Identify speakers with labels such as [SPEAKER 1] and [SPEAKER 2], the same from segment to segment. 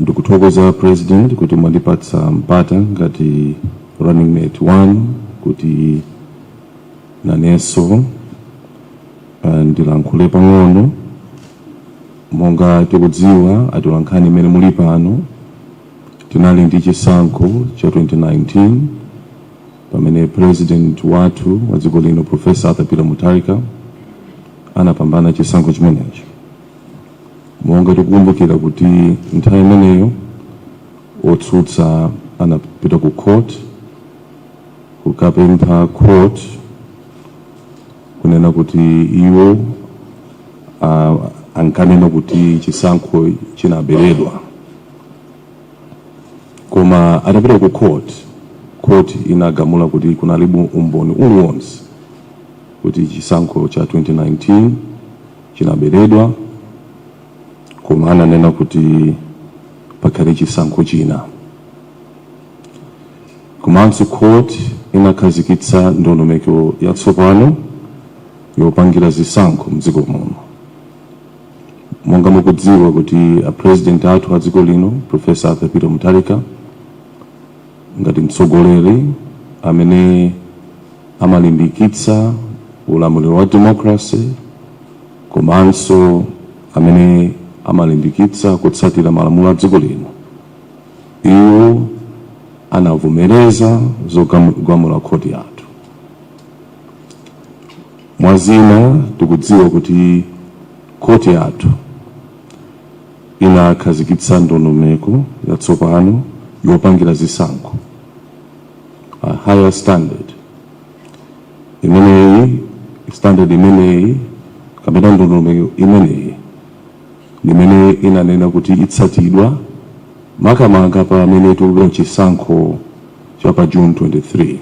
[SPEAKER 1] ndikuthokoza president kuti mwandipatsa mpata ngati running mate one kuti nanenso ah, ndilankhule pang'ono monga tikudziwa atolankhani imene muli pano tinali ndi chisankho cha 2019 pamene president wathu wa dziko lino professor arthur peter mutharika anapambana chisankho chimenecho monga tikukumbukira kuti nthawi imeneyo otsutsa anapita ku court kukapempha court kunena kuti iwo ah, ankanena kuti chisankho chinaberedwa koma atapita ku court court inagamula kuti kunalibe umboni uliwonse kuti chisankho cha 2019 chinaberedwa koma ananena kuti pakhale chisankho china komanso court inakhazikitsa ndondomeko yatsopano yopangira zisankho mdziko muno monga mukudziwa kuti a president athu a dziko lino professor arthur peter mutharika Ngati mtsogoleri amene amalimbikitsa ulamuliro wa democracy komanso amene amalimbikitsa kutsatira malamulo a dziko lino, iwo anavomereza zogamula khoti yathu. Mwa zina, tikudziwa kuti khoti yathu. inakhazikitsa ndondomeko yatsopano yopangira zisankho, a higher standard. Imeneyi standard imeneyi kapena ndondomeko imeneyi ndi imene inanena kuti itsatidwa makamaka pamene tikupita chisankho cha pa June 23.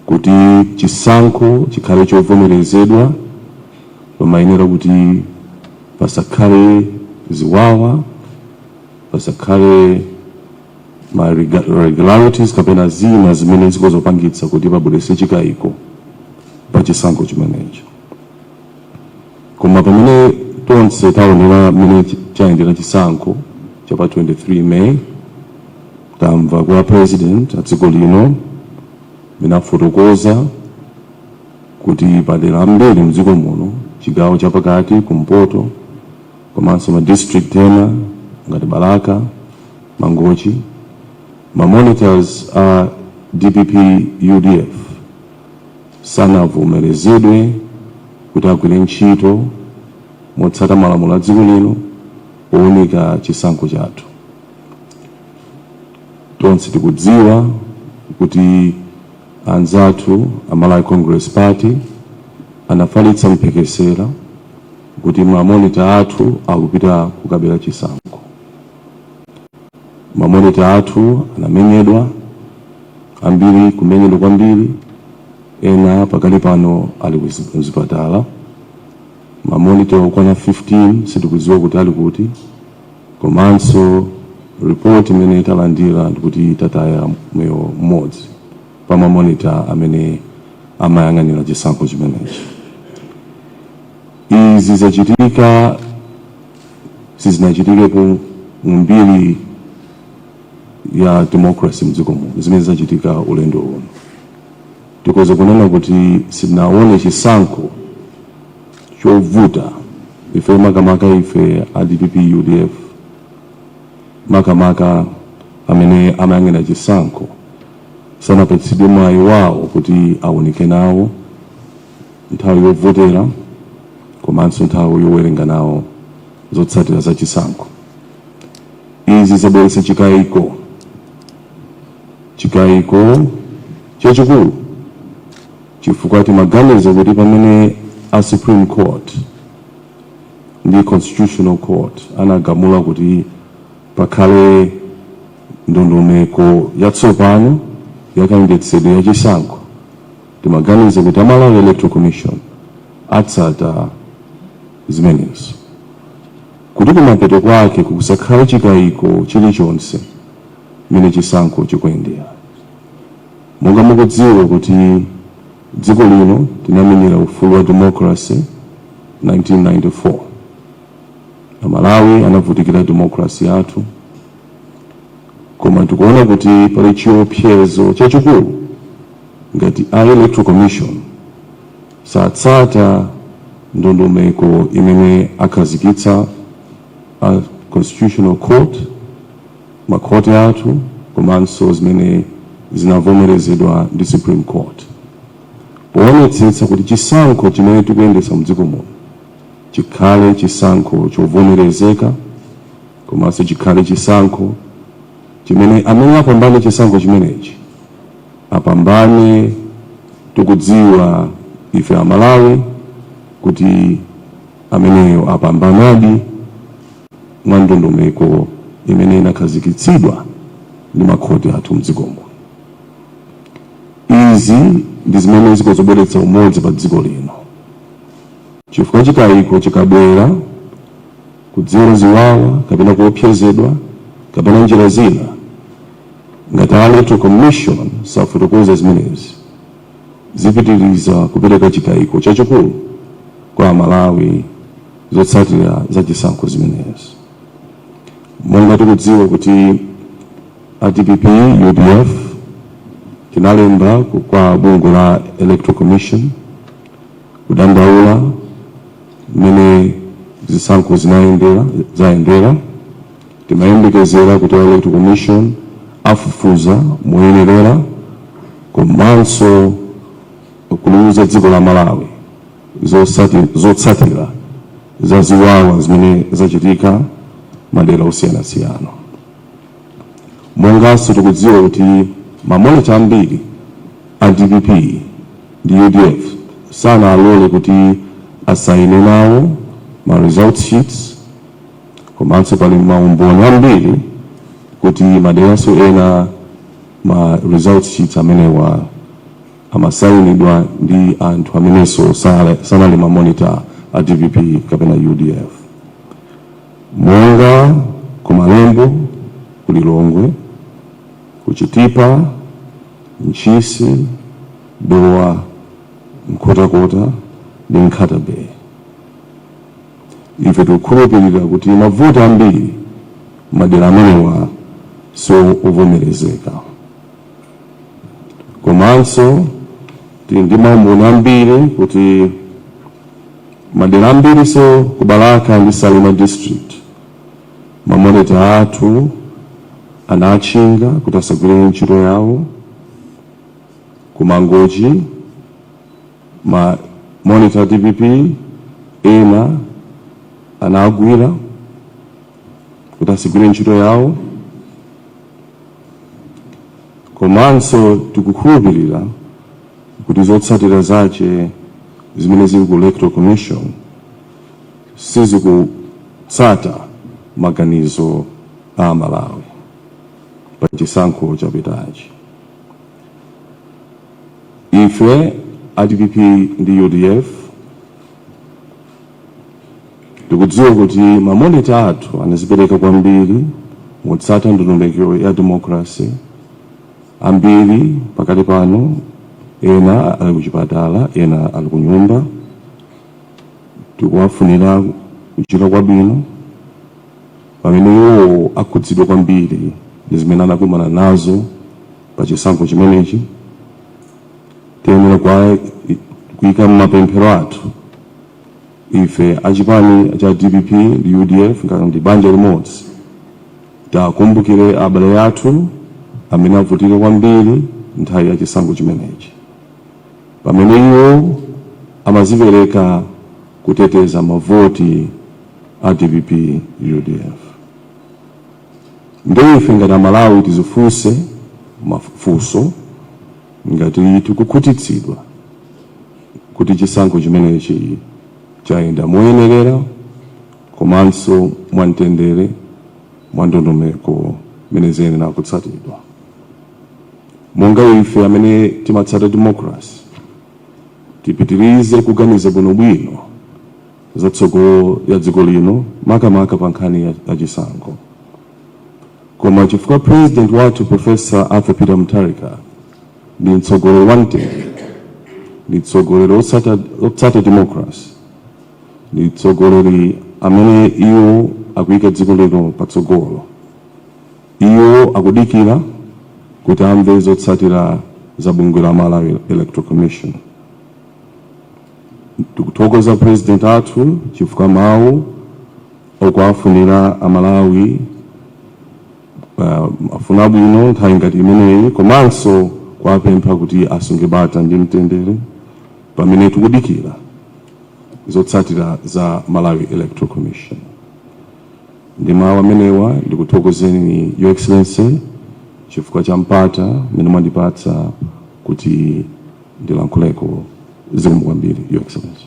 [SPEAKER 1] kuti chisankho chikhale chovomerezedwa pamayenera kuti pasakhale ziwawa, pasakhale ma irregularities kapena zina zimene zikhoza kupangitsa kuti pabweretse chikayiko pa chisankho chimenecho. koma pamene tonse taonera mmene chi- chayendera chisankho cha pa 23 may tamva kwa president a dziko lino mmene afotokoza kuti madera ambiri mdziko muno chigawo chapakati kumpoto komanso ma district ena ngati balaka mangochi ma monitors a dpp udf sanavomerezedwe kuti agwire ntchito motsata malamulo a dziko lino owunika chisankho chathu. Tonse tikudziwa kuti anzathu a Malawi Congress Party anafalitsa mphekesera kuti mamonita athu akupita kukabera chisankho. Ma monitor athu anamenyedwa, ambiri kumenyedwa kwambiri, ena pakali pano ali ku zipatala. Ma monitor okwana 15 sitikudziwa kuti ali kuti, komanso report imene talandira ndikuti tataya moyo m'modzi pa ma monitor amene amayang'anira chisankho chimenechi. Izi zachitika. sizinachitikepo mu mbiri ya democracy mdziko muno zimene zachitika ulendo uno tikhoza kunena kuti sinaone chisankho chovuta ife makamaka ife a dpp udf makamaka amene amayang'ana chisankho sanapatsidwe mwayi wawo kuti aunike nawo nthawi yovotera komanso nthawi yowerenga nawo zotsatira za chisankho. Izi zabweretsa chikayiko chikayiko chachikulu chifukwa timaganiza kuti pamene a Supreme Court ndi Constitutional Court anagamula kuti pakhale ndondomeko yatsopano yakayendetsedwe ya chisankho timaganiza kuti a Malawi Electoral Commission atsata zimenezo kuti kumapeto kwake kusakhale chikayiko chilichonse mmene chisankho chikuyendera monga mukudziwa kuti dziko lino tinamenyera ufulu wa democracy 1994 aMalawi anavutikira democracy yathu Koma tikuona kuti pali chiopsezo chachikulu ngati a Electoral Commission satsata ndondomeko imene akhazikitsa a Constitutional Court, makhoti athu komanso zimene zinavomerezedwa ndi Supreme Court, poonetsetsa kuti chisankho chimene tikuyendetsa mdziko muno chikhale chisankho chovomerezeka, komanso chikhale chisankho chimene amene apambane chisankho chimenechi apambane tikudziwa ife Amalawi kuti ameneyo apambanadi mwa ndondomeko imene inakhazikitsidwa ndi makhoti athu mdziko muno. Izi ndi zimene zikadzabweretsa umodzi pa dziko lino, chifukwa chikayiko chikabwera kudzera ziwawa kapena kuopsezedwa kapena njira zina ngati a electoral commission safotokoza zimenezi zipitiriza kupereka chikayiko chachikulu kwa amalawi zotsatira za chisankho zimenezi monga tikudziwa kuti a dpp udf tinalemba kwa bungwe la electoral commission kudandaula mmene zisankho zinayendera zayendera timayembekezera kuti a electoral commission afufuza moyenerera komanso kuliuza dziko la malawi zotsatira za ziwawa zimene zachitika madera osiyanasiyana Monganso tikudziwa kuti ma monitor ambiri a dpp ndi udf sanawalole kuti asayine nawo ma results sheets komanso pali ma umboni ambiri kuti maderanso ena ma results sheets amenewa amasayinidwa ndi anthu amenenso sanali ma monitor a dpp kapena udf. Monga ku Malembo, ku Lilongwe, ku Chitipa, Ntchisi, Dowa, Nkhotakota ndi Nkhata Bay, ife tikukhulupirira kuti mavote ambiri m'madera amenewa si ovomerezeka. Komanso tili ndi maumboni ambiri kuti madera ambirinso ku balaka ndi salima district mamonita athu anawatchinga kuti asagwire ntchito yawo ku mangochi ma monitor dpp ena anawagwira kuti asagwire ntchito yawo komanso tikukhulupirira kuti zotsatira zache zimene zili ku electoral commission sizikutsata maganizo a amalawi pa chisankho chapitachi ife a dpp ndi udf tikudziwa kuti mamonita athu anazipereka kwambiri motsata ndondomeko ya democracy ambiri pakati pano ena ali kuchipatala ena ali kunyumba tikuwafunira kuchira kwabwino pamene iwo akhudzidwa kwambiri ndi zimene anakumana nazo pa chisankho chimenechi tiyenera kwa- kuika m'mapemphero athu Ife a chipani cha dpp ndi udf ngati ndi banja limodzi, tiwakumbukire abale athu amene avutika kwambiri nthawi ya chisankho chimenechi pamene iwo amazipereka kuteteza mavoti a dpp, udf. Nde ife ngati a Malawi tizifunse mafunso ngati tikukhutitsidwa. kuti chisankho chimenechi chayenda moyenerera komanso mwamtendere mwa ndondomeko imene ziyenera kutsatidwa. Monga ife amene timatsata demokrasi, tipitirize kuganiza bwinobwino za tsogolo ya dziko lino makamaka pa nkhani ya chisankho. Koma chifukwa president wathu Professor Arthur Peter Mutharika ndi mtsogoleri wa mtendere, ndi mtsogoleri otsata democracy, ndi mtsogoleri amene iwo akuyika dziko lino patsogolo. Iwo akudikira kuti amve zotsatira za bungwe la Malawi Electoral Commission. Tikuthokoza president athu chifukwa mawu okuwafunira Amalawi mafuno abwino nthawi ngati imeneyi komanso kuwapempha kuti asunge bata ndi mtendere pamene tikudikira zotsatira za Malawi Electoral Commission. Ndi mawu amenewa ndikuthokozeni Your Excellency chifukwa cha mpata umene mwandipatsa kuti ndilankhuleko zikomo kwambiri Your Excellency.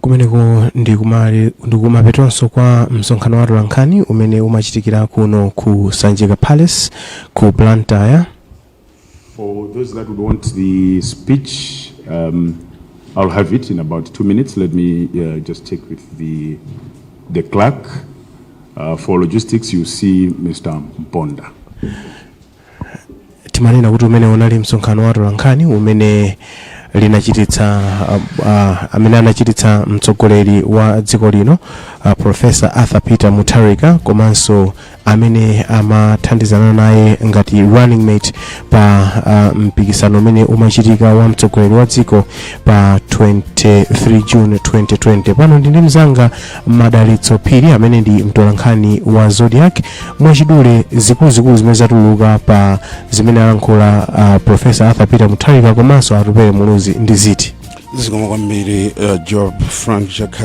[SPEAKER 2] kumeneko ndi kumapetonso kwa msonkhano wa atolankhani umene umachitikira kuno ku sanjika palace ku blantyre For
[SPEAKER 3] those that would want the speech, um, I'll have it in about two minutes. Let me uh, just check with the, the clerk. Uh, for logistics, you see Mr. Mponda.
[SPEAKER 2] Timanena kuti umene unali msonkhano wa atolankhani umene linachititsa uh, uh, amene anachititsa mtsogoleri wa dziko lino uh, Professor Arthur Peter Mutharika komanso amene amathandizana naye ngati running mate pa uh, mpikisano umene umachitika wa mtsogoleri wa dziko pa 23 June 2020 pano ndi ndi mzanga Madalitso Phiri amene ndi mtolankhani wa Zodiak mwachidule zikuluzikulu zimene zatuluka pa zimene alankhula uh, Professor Arthur Peter Mutharika komanso Atupele Muluzi ndi ziti zikomo
[SPEAKER 4] kwambiri
[SPEAKER 2] uh, Joab
[SPEAKER 4] Frank
[SPEAKER 2] Chakhaza